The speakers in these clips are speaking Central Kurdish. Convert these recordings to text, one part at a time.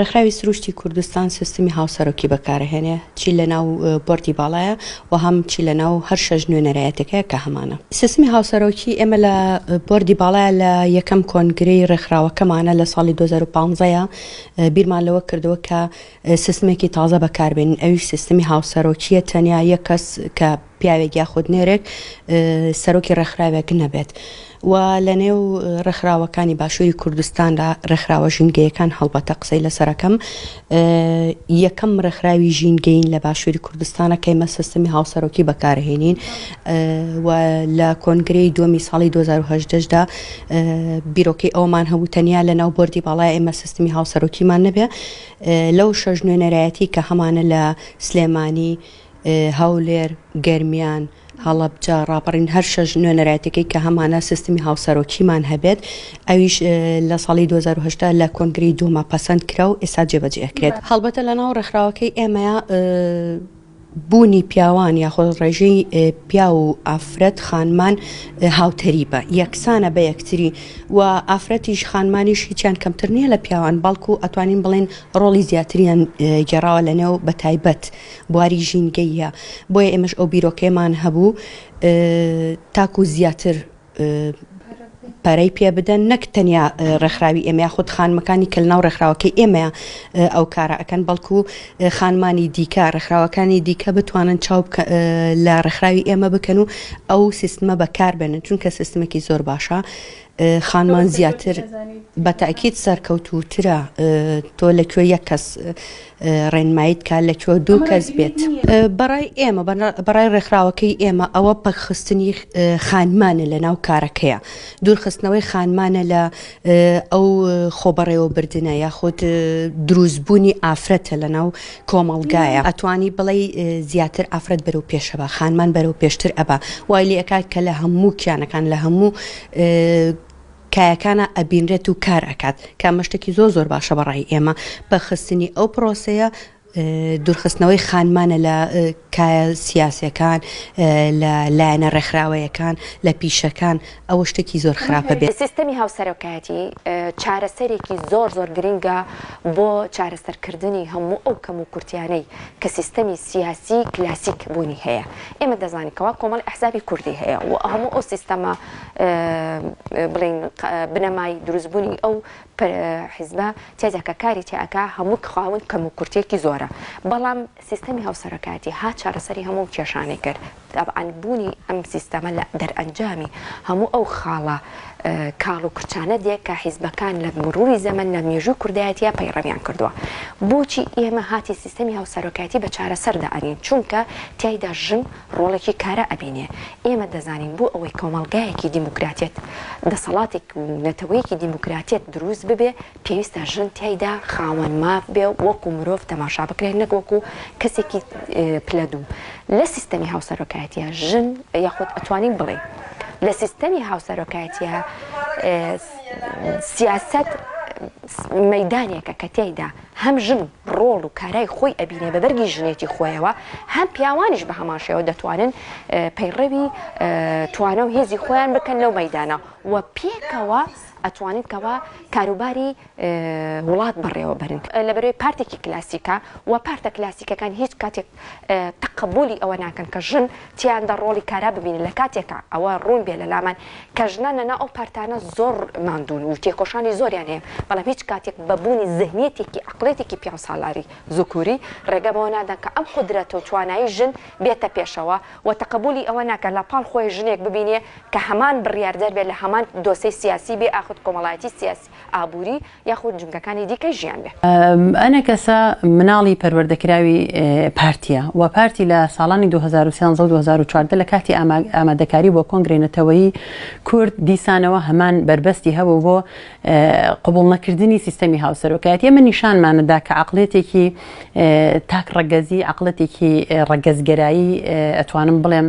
ڕێکخراوی سروشتی کوردستان سیستمی هاوسەرۆکی بەکارەهێنێ چی لەناو بۆردی باڵایە و هەم چی لەناو هەر شەش نوێنەرایەتەکەیە کە هەمانە سیستمی هاوسەرۆکی ئێمە لە بۆردی باڵایە لە یەکەم کۆنگرەی ڕێکخراوەکەمانە لە ساڵی 2015 بیرمان لەوە کردووە کە سیستمێکی تازە بەکاربێنین ئەویش سیستمی هاوسەرۆکیە تەنیا یەک کەس کە پیاوێک یاخود نێرێک سەرۆکی ڕێکخراوێک نەبێت و لە نێو ڕێکخراوەکانی باشووری کوردستاندا ڕێکخراوە ژینگەیەکان هەڵبەتە قسەی لەسەرەکەم یەکەم ڕێکخراوی ژینگەین لە باشووری کوردستانە کەیمە سیستمی هاوسەرۆکی بەکارهێنین و لە کۆنگری دومی ساڵی 2010دا بیرۆکەی ئەومان هەبوو تەنیا لە ناو بردی باڵای ئێمە سیستمی هاوسەرۆکیمان نەبێ لەو شەش نوێنەرایەتی کە هەمانە لە سلێمانی هەولێر، گەرمیان، هەڵەبجە، ڕاپەڕین هەر شەش نوێنەرایەتەکەی کە هەمانە سیستمی هاوسەرۆکیمان هەبێت ئەویش لە ساڵی 2010 لە کۆنگری دوما پەسەند کرا و ئێستا جێبەجێ ئەکرێت هەڵبەتە لە ناو ڕێکخراوەکەی ئێمەیە بوونی پیاوان یاخۆ ڕێژەی پیا و ئافرەت خانمان هاوتەریبە یەکسانە بە یەکتری و ئافرەتیش خانمانیش هیچیان کەمتر نییە لە پیاوان بەڵکو ئەتوانین بڵێن ڕۆڵی زیاتریان گێڕاوە لە نێو بە تایبەت بواری ژینگەییە بۆیە ئێمەش ئەو بیرۆکەیەمان هەبوو تاکو زیاتر پەرەی پێ بدەن نەک تەنیا ڕێکخراوی ئێمە خود خانمەکانی کە ناو ڕێکخراوەکەی ئێمە ئەو کارە ئەەکەن بەڵکو خانمانی دیکە ڕێکخراوەکانی دیکە بتوانن چاو لە ڕێکخراوی ئێمە بکەن و ئەو سیستمە بەکار بێنن چونکە سیستمێکی زۆر باشە خانمان زیاتر بە تاکیت سەرکەوتوترە تۆ لە کوێ یەک کەس ڕێنمایی بکات لە کوێ دوو کەس بێت بەڕای ئێمە بەڕای ڕێکخراوەکەی ئێمە ئەوە پەکخستنی خانمانە لە ناو کارەکەیە دوورخستنەوەی خانمانە لە ئەو خۆبەڕێوەبردنە یاخود دروستبوونی ئافرەتە لە ناو کۆمەڵگایە ئەتوانی بڵێ زیاتر ئافرەت بەرەو پێشەوە خانمان بەرەو پێشتر ئەبا وای لێکات کە لە هەموو کیانەکان لە هەموو کایەکانا ئەبینرێت و کار ئەکات کە ئەمە شتێکی زۆر زۆر باشە بە ڕای ئێمە بە خستنی ئەو پرۆسەیە دوورخستنەوەی خانمانە لە کایە سیاسەکان لە لایەنە ڕێکخراوەیەکان لە پیشەکان ئەوە شتێکی زۆر خراپە بێت سیستەمی هاوسەرۆکایەتی چارەسەرێکی زۆر زۆر گرنگە بۆ چارەسەرکردنی هەموو ئەو کەم و کورتیانەی کە سیستەمی سیاسی کلاسیک بوونی هەیە ئێمە دەزانین کەوا کۆمەڵ ئەحزابی کوردی هەیە و هەموو ئەو سیستەمە بڵێین بنەمای دروستبوونی ئەو حیزبە تێدا کە کاری تێئەکا هەموو خاون کەم و کورتێکی زۆرە بەڵام سیستەمی هاوسەرەکاتی ها چارەسەری هەموو کێشانێک کرد دابعاان بوونی ئەم سیستەمە لە دەرئەنجامی هەموو ئەو خاڵە کاڵ و کرچانە دێک کە حیزبەکان لە مروری زەمن لە مێژوو کوردایەتە پەیڕەویان کردووە بۆچی ئێمە هاتی سیستەمی هاوسەرۆکاتی بە چارەسەردا ئەنین چونکە تایدا ژن ڕۆڵێکی کارا ئەبینێ، ئێمە دەزانین بۆ ئەوەی کۆمەڵگایەکی دیموکراتێت، دەسەڵاتێک و نەتەوەیەکی دیموکراتێت دروست ببێ، پێویستە ژن تیایدا خاوەن ماف بێ و وەکو مرۆڤ تەماشا بکرێ نەک وەکو کەسێکی پلە دوو. لە سیستەمی هاوسەرۆکایەتییە ژن یاخود ئەتوانین بڵێین لە سیستەمی هاوسەرۆکایەتییە سیاسەت مەیدانێکە کە تیایدا هەم ژن و. ڕۆڵ و کارای خۆی ئەبینێ بە بەرگی ژنێتی خۆیەوە، هەم پیاوانیش بە هەمان شێوە دەتوانن پەیڕەوی توانا و هێزی خۆیان بکەن لەو مەیدانە و پێکەوە ئەتوانن کەوا کاروباری وڵات بەڕێوە بەرن لە بەرەی پارتێکی کلاسیکە و پارتە کلاسیکەکان هیچ کاتێک تەقەبولی ئەوە ناکەن کە ژن تیاندا ڕۆڵی کارا ببینن لە کاتێکا ئەوە ڕوون بێ لە لامان کە ژنان لە ناو ئەو پارتانە زۆر ماندوون و تێکۆشانی زۆریان هەیە بەڵام هیچ کاتێک بە بوونی زهنیەتێکی عەقڵیەتێکی پیاوسالاری زوکوری ڕێگە بەوە نادەن کە ئەم قودرەت و توانایی ژن بێتە پێشەوە و تەقەبولی ئەوە ناکەن لە پاڵ خۆی ژنێک ببینێ کە هەمان بڕیاردەر بێ لە هەمان دۆسەی سیاسی بێ ئاخد کۆمەڵایەتی سیاسی ئابووری یاخود جومگەکانی دیکەی ژیان بێ. ئەنەکەسە مناڵی پەروەردەکراوی پارتیە و پارتی لە ساڵانی دوو هەزار و سیانزە و دوو هەزار و چواردە لە کاتی ئامادەکاری بۆ کۆنگرەی نەتەوەیی کورد دیسانەوە هەمان بەربەستی هەبوو بۆ قبوڵ نەکردنی سیستەمی هاوسەرۆکایەتی ئەمە نیشانمان دا کە عەقڵیەتێکی تاک ڕەگەزی عەقڵەتێکی ڕەگەزگەرایی ئەتوانم بڵێم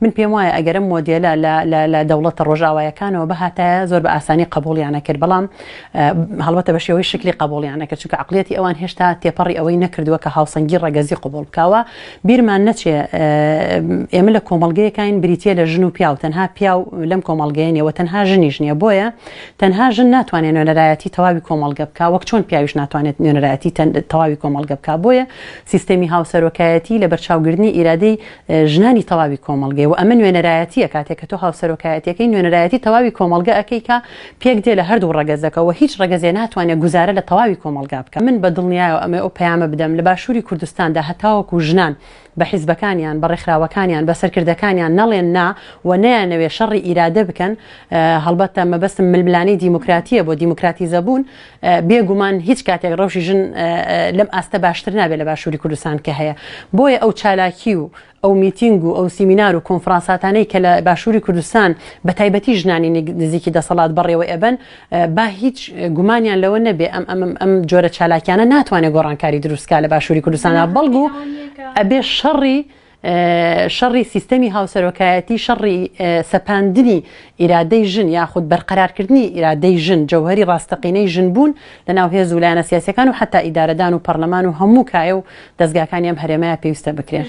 من پێم وایە ئەگەر ئەم مۆدێلە لە لە لە دەوڵەتە ڕۆژئاوایەکانەوە بهاتایە زۆر بە ئاسانی قبوڵیان ئەکرد بەڵام هەڵبەتە بە شێوەی شکلی قبوڵیان ئەکرد چونکە عقلەتی ئەوان هێشتا تێپەڕی ئەوەی نەکردووە کە هاوسەنگی ڕەگەزی قبوڵ بکاوە بیرمان نەچێ ئێمە لە کۆمەڵگەیەکاین بریتە لە ژن و پیاو تەنها پیاو لەم کۆمەڵگەیە نیەوە تەنها ژنیش نییە بۆیە تەنها ژن ناتوانێت نوێنەرایەتی تەواوی کۆمەڵگە بک وەک چۆن پیاویش ناتوانێت نوێنەرایەتی تەواوی کۆمەڵگە بک بۆیە سیستەمی هاوسەرۆکایەتی لە بەرچاوگرنی ئیرادەی ژنانی تەواوی کۆمەڵگەی وە ئەمە نوێنەرایەتیە کاتێک کە تۆ هاوسەرۆکایەتیەکەی نوێنەرایەتی تەواوی کۆمەڵگە ئەکەی کە پێک دێ لە هەردوو ڕەگەزەکە وە هیچ ڕەگەزێ ناتوانێ گوزارە لە تەواوی کۆمەڵگا بکا من بە دڵنیایەوە ئەمەوێ ئەو پەیامە بدەم لە باشوری کوردستاندا هەتاوەکو ژنان بە حیزبەکانیان بە ڕێکخراوەکانیان بە سەرکردەکانیان نەڵێن نا وە نەیانەوێ شەڕی ئیرادە بکەن هەڵبەتە مەبەستم ململانێی دیموکراتیە بۆ دیموکراتیزەبوون بێ گومان هیچ کاتێک ڕەوشی ژن لەم ئاستە باشتر نابێت لە باشووری کوردستان کە هەیە بۆیە ئەو چالاکی و ئەو میتینگ و ئەو سیمینار و کۆنفرانساتانەی کە لە باشووری کوردستان بە تایبەتی ژنانی نزیکی دەسەڵات بەڕێوە ئەبن با هیچ گومانیان لەوە نەبێ ئەم ئەم ئەم جۆرە چالاکیانە ناتوانێت گۆڕانکاری دروستکە لە باشووری کوردستانە بەڵگو ئەبێ شەڕی شەڕی سیستەمی هاوسەرۆکایەتی شەڕی سەپاندنی ئیرادەی ژن یاخود بەرقەرارکردنی ئیرادەی ژن جەوهەری ڕاستەقینەی ژن بوون لەناو هێز و لایەنە سیاسیەکان و حەتا ئیدارەدان و پەڕلەمان و هەموو کایە و دەزگاکانی ئەم هەرێمەیە پێویستە بکرێن.